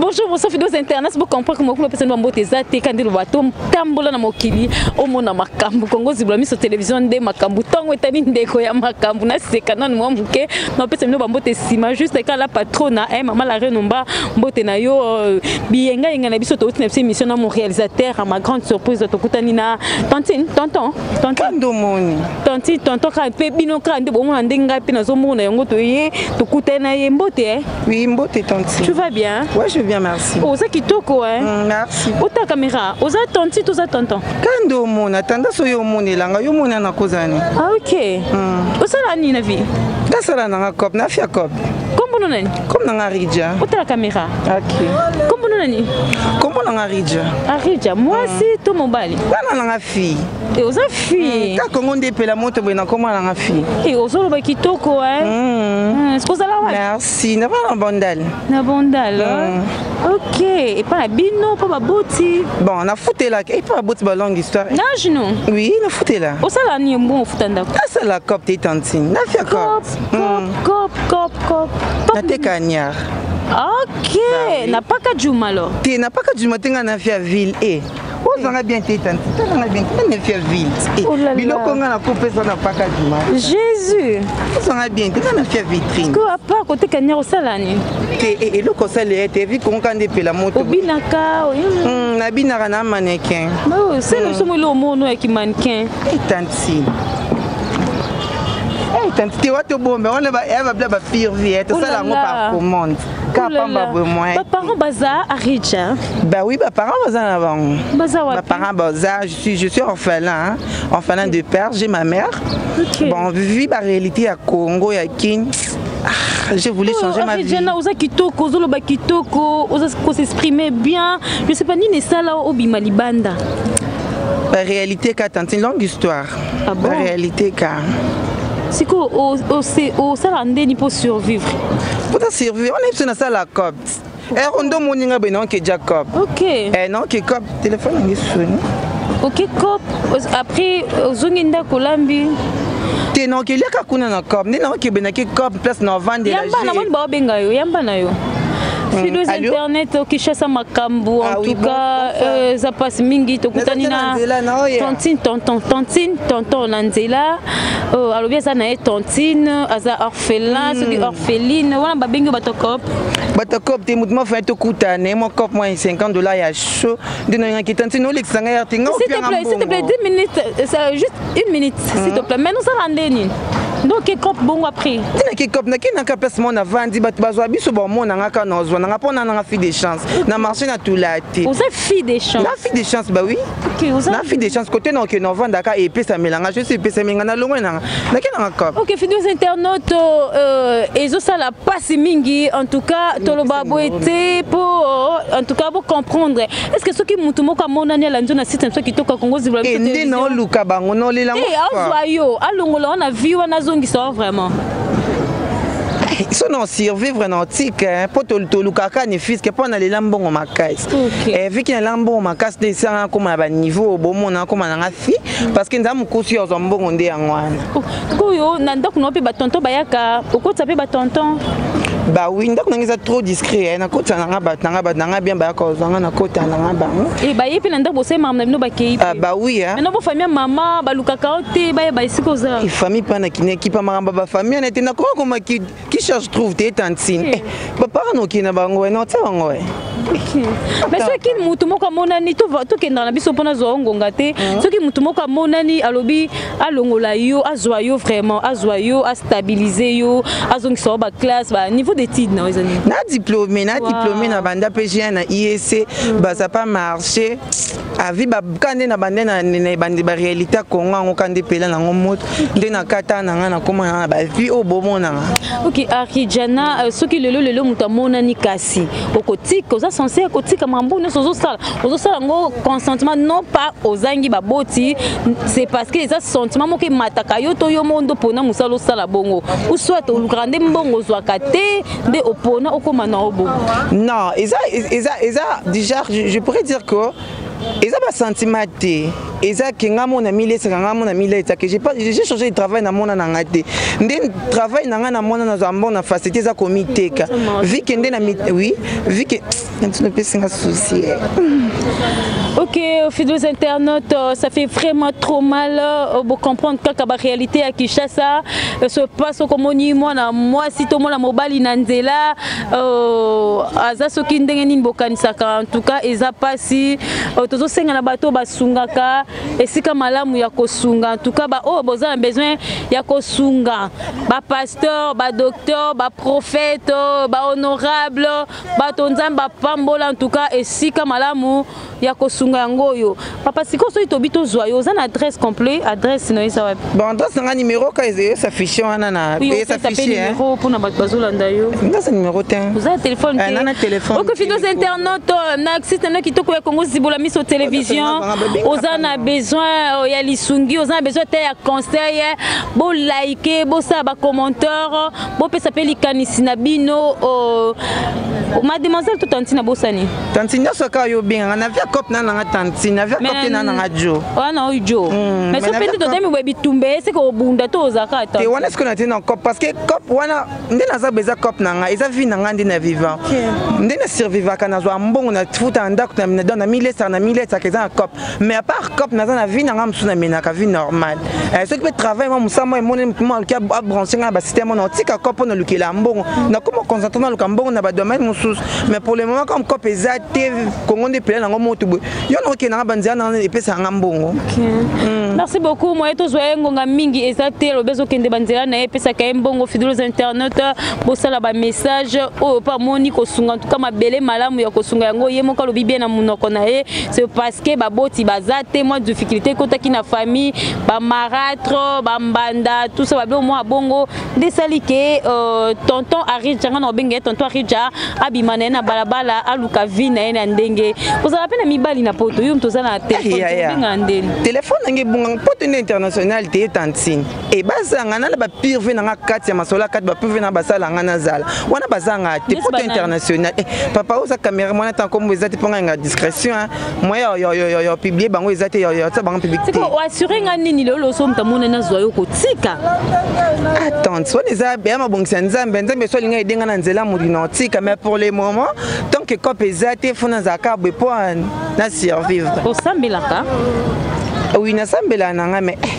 bonjour bonsoir fidos internet bocomprend que mokulu apesani bambote eza te kandi loba totambola na mokili omona makambo kongo zibula miso televizio nde makambo ntango etali ndeko ya makambo naseka nanu mwa moke napesa bino bambote nsima juste kala patrona e eh, mama la renomba mbote na yo euh, biyengayenga na biso touti na biso émission na mon réalisateur à ma grande surprise tokutani na tantine tonton tontondomoni tantine tonton kaka mpe bino kaka nde bomona nde ngai mpe nazomona yango toye tokutani na ye mbote eh. Oui, mbote tantine. Tu vas bien Ouais, je vais bien, merci. Oh, ça qui toko hein. Mm, merci. Oh ta caméra, oza tantine, oza tonton. Kando mona, tanda so yo mona langa, yo mona na kozani. Ah OK. Mm. Oza la ni na vie. Da sala na cop, na fia cop. Kombo no nani? Kombo na Ridja. Oh ta caméra. OK. Kombo no nani? Kombo na Ridja. Ah Ridja, moi si to mobali. Bana na fille. e oza fille hmm, ka kongo nde epela moto boye nakoma nanga fille e eh, ozoloba kitoko e hmm. hmm, sikozala wa merci nava na bandal na bandal ok epa na bino mpo baboti bon nafutelaka epa baboti ba longue histoire nage no oui nafutela osala ni mbongo ofuta ndako nasala cop te tantine nafia cop cop cop cop nateka niar ok napaka juma lo te napaka juma te ngai nafia ville e ozanga bien te tanti talanga bien te nani afia vite biloko nga nakopesa na paka dima jésus ozanga bien te nani afia vitrine ko apart koteka nyaka osala nini te e, eloko osala ye te vi kongoka nde epela moto obinaka hmm, nabinaka na manekin selo biso mo eloko mono ya kimanekin etanti eh, eh, tanti te watobomba wana babla bapire vie tosala yango par commande ka oh pamba boye moyen baparent baza riche hein? bah oui baparent baza na bango baza wapi baparent baza je suis je suis orphelin hein? orphelin de père j'ai ma mère okay. bon vie ba réalité ya Congo ya Kin ah, je voulais oh, changer oh, ma vie. Jana, oza kitoko, ozo loba kitoko, oza ko s'exprimer bien. Je sais pas nini sala obima libanda. La réalité ka tantine longue histoire. ah bon? réalité ka sikoyo osalaka ndeni mpo survivre mpo ta survivre wana biso nasala copte ero nde omoni nga boye naoke ja cop eh, naoke cop telefone yange soni oke cop après ozongi ndako olambi te naokeliaka kuna na cop nde naokebendaki cop place na ovandela yamba namoni baobenga yo yamba na yo filos internet okishasa makambo en tout cas eza mpasi mingi tokutani na tantine tonton tantine tonton na nzela alobi aza na ye tantine aza orphelin soki orpheline wana babengi bato cop bato cop te motu mafai tokuta na ye mwa cop mwa 50 dollar ya chaud nde nayangaki tantine olekisa ngai arte nga opianga mbongo une minute mm -hmm. s'il te plaît mais nous allons nde nini donc kekop bongo après tina kekop na kina ka place mona vandi bato bazwa biso bamona nga ka na ozwa nanga mpo nana nga fille de chance na marché na tula te oza fille de chance na fille de chance ba oui okay, oza... na fille de chance côté na okende ovanda ka epesamela nga jesu epesameli nga na longwe nanga na kina nga kop ok fidus internaute euh, ezosala mpasi mingi en tout cas toloba boye te mpo en tout cas bocomprendre est ce que soki mutu moko amonani alandi yo na site na biso kitoko ya kongo zibula biso ende na oluka bango na olela yango azwa yo alongola wana vie wana azongisa yo vraiment so na survivre na otike eh, mpo tolukaka ni fiske mpo nalela mbongo makasi eh, viki nalela mbongo makasi nde esanga nakoma na baniveau oyo bomona nakoma nanga fi parce que nzaa mokosi yo azwa mbongo nde yango wana sikoyo na ndako na yo mpe batonton bayaka okotisa mpe batonton bawi ndako nange eza trop discret eh, nakota nanga bato nanga bato nanga bien bayaka ozwanga nakota nanga bango eh, baye mpe na ndako bosali makambo na bino bakei ah, bawi eh. na bofamille ya mama balukaka yo te bayeba esika oza ifamille mpe na kineki mpa makambo ya bafamille na ete nakoma komaki qui cherche trouve te tantine eh, bapaka noki na bango eh, naotia bango eh. mais soki motu moko amonani tokendaka na biso mpona azwa yo ngonga te mm. soki motu moko amonani alobi alongola yo azwa yo vraiment azwa yo astabilise yo azongisa yo baclasse baniveau d'étude na yo eza nini na diplôme na diplôme na banda mpe jna na iec mm. baza pa marché avi babka nde na bande na ebandi barealité ya kongo yango ka nde mpela nango moto nde na kata na ngai nakoma na bavie oyo bomonanga ok arhijana euh, soki lelo lelo moto amonani kasi okotika oza sense ya kotika mambo nyonso ozosala ozosala yango consentement non pas ozangi baboti c'est parce que eza sentiment moko emataka yo to yo moko nde mpona mosala osala bongo ou soit olukaka nde mbongo ozwaka te nde opona okoma na obo non eza eza eza déjà je pourrais dire que eza basentiment te eza ke ngai mona milesaka ngai mona miletake j'ai changé de travail na mwana na ngai te nde travail na ngai na mwana nazwa mbongo na facilité eza komiteka vike nde na oui vike Natuna epesi nga souci eh. Ok, fidèles internautes, euh, ça fait vraiment trop mal. Euh, vous comprenez que la réalité à Kinshasa euh, se passe comme on dit, moi, moi, si tout le monde a mobile Nanzela, aza soki ndenge nini bokanisaka en tout cas eza pasi tozosenga na bato basungaka esika malamu ya kosunga en tout cas baoyo oh, boza na besoin ya kosunga bapasteur badocteur baprophète bahonorable bato nzambe apambola ntuka esika malamu ya kosunga yango oyo papa sikoyo soki tobi tozwa yo oza na adresse complet adresse no eza wapi bon adresse nanga numero ka eza affiche wana na eza affiche numero pona bato bazolanda yo ndaza numero te oza na telefone eh, te na telefone okofi toza internaute oh, na site na kitoko ya Congo zibola miso television oza na besoin oh, ya lisungi oza na besoin te ya conseil eh. bo like bosala ba commentaire oh. bopesa mpe likanisi na bino oh, mademoiselle to tantine abosani tantine nyonso kaka yo obengaka na via cop na nanga tantine na via cop te na nanga jo wana oyo jo hmm, mais so mpe nde totemi boye bitumba eseke obunda to ozaka te wana esiko na te na cop parce que cop wana nde naza boye eza cop na ngai eza vie na ngai nde na vivant nde na survivaka nazwa mbongo na futa na ndako na milesaka na milesaka eza na cop mais à part cop naza na vie nanga mosusu namenaka vie normale eh, soki mpe travail mwa mosala mwa emoneli motu mwa aluki abranche ngai na basite mona otika cop mpo nalukela mbongo nakoma concentre naluka mbongo na badomaine mosusu mais pour le moment comme cop eza te kongo nde epela nango motu boye yo nakokende nanga banzela nanga epesaka nga mbongo hmm. merci beaucoup moye tozwa ye ngonga mingi eza te lobi ezokende banzela na ye epesaka ye mbongo fidules internet bosala bamessage oyo mpe amoni kosunga ntuka mabele malamu ya kosunga yango ye moko alobi bie na monoko na ye c'est parce que baboti baza te mwa difficulté ekotaki na famille bamaratre bambanda tout ça babe mwa bongo nde esali ke euh, tonton arija ngai na obenge ye tonton arija abima na ye na balabala aluka vie na ye na ndenge kozala mpe na mibali na poto yo moto oza na telefone obenga ndeni telefone nange ebunga poto nde international te ye tantine e bazala ngai nala bapirve na ngai kati ya masolo ya kati bapirve na basala ngai nazala wana baza ngai te poto international eh, papa oza camera mwana ntango kombo eza te mpo ngai nga discrétion eh. moyen ya publie bango eza te tia bango publicité oassure ngai nini lelo loso moto amona nazwa yo kotika attente wana eza ya mabongisi ya nzambe nzambe so alinga edenga na nzela molino otika mais pour le moment tant que cope eza te fo nazala kaka boye mpo na survivre osambelaka oui nasambela na ngai mais eh,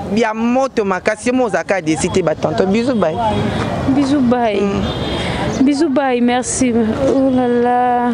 bia moto makasi yo mo ozalaka desi te batonto bizu bai bizu bai mm. bizu bai merci olala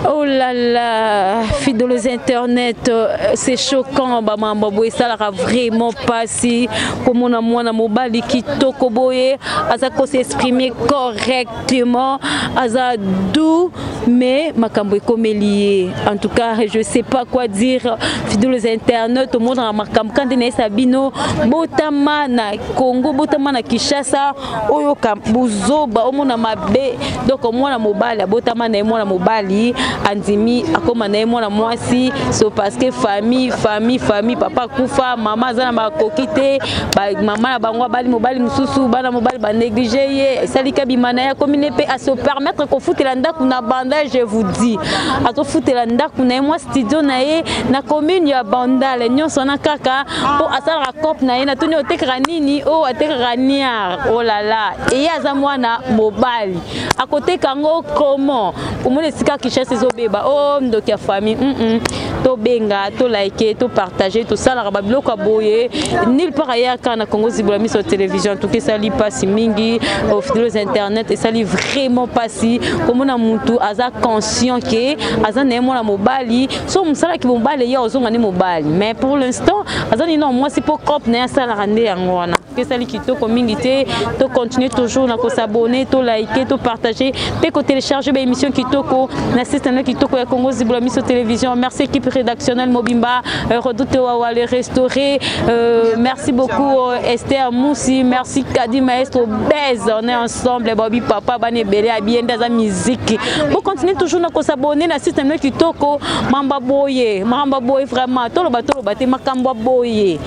oh olala oh fidolos internet euh, c'est choquant bamambo boye esalaka vraiment mpasi komona mwana mobali kitoko boye aza kose exprime correct Clément aza doux mais makambo ekomeli ye en tout cas je sais pas quoi dire fidèle aux internautes omonaka makambo kande na yesa bino botama na congo botama na kinshasa oyoka buzoba omona mabe donc mwana mobali abotama na ye mwana mobali andimi akoma na ye mwana mwasi so parce que famille famille famille papa kufa mama aza na makoki te bamama na bango abali mobali mosusu bana mobali banéglige ye esalika bima na ye akomi ne mpe ase permettre kofutela ndako na bandal je vous dis azofutela ndako na ye mwa studio na ye na commune ya bandal nyonso wana kaka mpo asalaka cope na ye na tuni otekaka nini oyo oh, atekaka niar olala oh eye aza mwana mobali akoteka yango comment omoni esika kishasi ezobeba o oh, ndoki ya famille mm -mm. tobenga to like to partage tosalaka babiloko ya boye nil part ayaka na congo zibola miso télévision en tout cas esali mpasi mingi ofidlos internet esali vraiment mpasi komona mutu aza conscient ke aza na ye mwana mobali so mosalaki mobali ye ozonga nde mobali mais pour l'instant aza nino mwasi mpo cope na ye asalaka nde yango wana esali kitoko mingi te to continuer toujours na kosabone to like to partager mpe kotelecharge baémission kitoko na site na kitoko ya congo zibola miso télévision merci équipe rédactionnelle mobimba euh, redoute wawa le restauré euh, merci beaucoup euh, esther musi merci kadi maestro base on est ensemble bobi papa bana ebele abiende aza miziki bo continuer toujours na kosabone na site na kitoko mamba boye mamba boye vraiment toloba toloba te makambo boye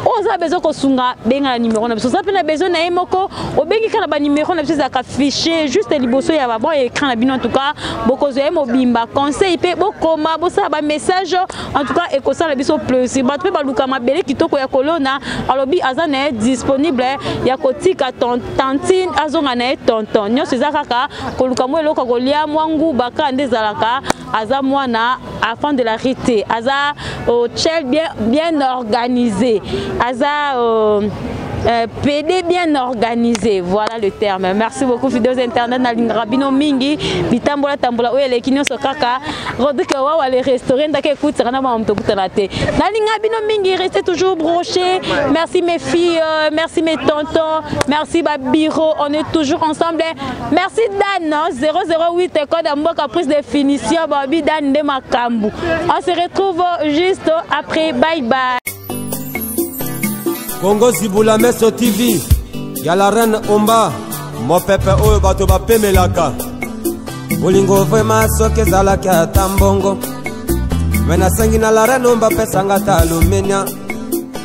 oza besoin kosunga benga na numero na biso oza mpe na besoin na ye moko obengi kaka na banumero na biso ezalaka fichier juste liboso ya babon ya écran na bino en tout cas bokozwa ye mobimba conseil mpe bokoma bosala bamessage en tout cas ekosala biso plaisir bato mpe baluka mabele kitoko ya kolona alobi aza na ye disponible ya kotika tantine azonga na ye tonton nyonso eza kaka koluka mwa eloko ya kolia mwa nguba kaka nde ezalaka aza mwana afan de la rue te aza oh, chel bien, bien organisé aza oh, Euh, PD bien organisé, voilà le terme. Merci beaucoup Fidos Internet na lingaka bino mingi bitambola tambola oyo eleki nyonso kaka Rodrigue Wawa le restaurant ndaka ekutaka na bango tokutana te. Na linga bino mingi restez toujours brochés. Merci mes filles, euh, merci mes tontons, merci ba bureaux. On est toujours ensemble. Merci Dan, 008 hein. code Mboka prise de finition, Bobby Dan de Makambu. On se retrouve juste après, bye bye. Congo Ziboula Meso TV, ya la reine Omba, mon pepe oyo bato bapemelaka. Bolingo vraiment soki ezalaki ata mbongo, me nasengi na la reine Omba pesanga ata alumenia.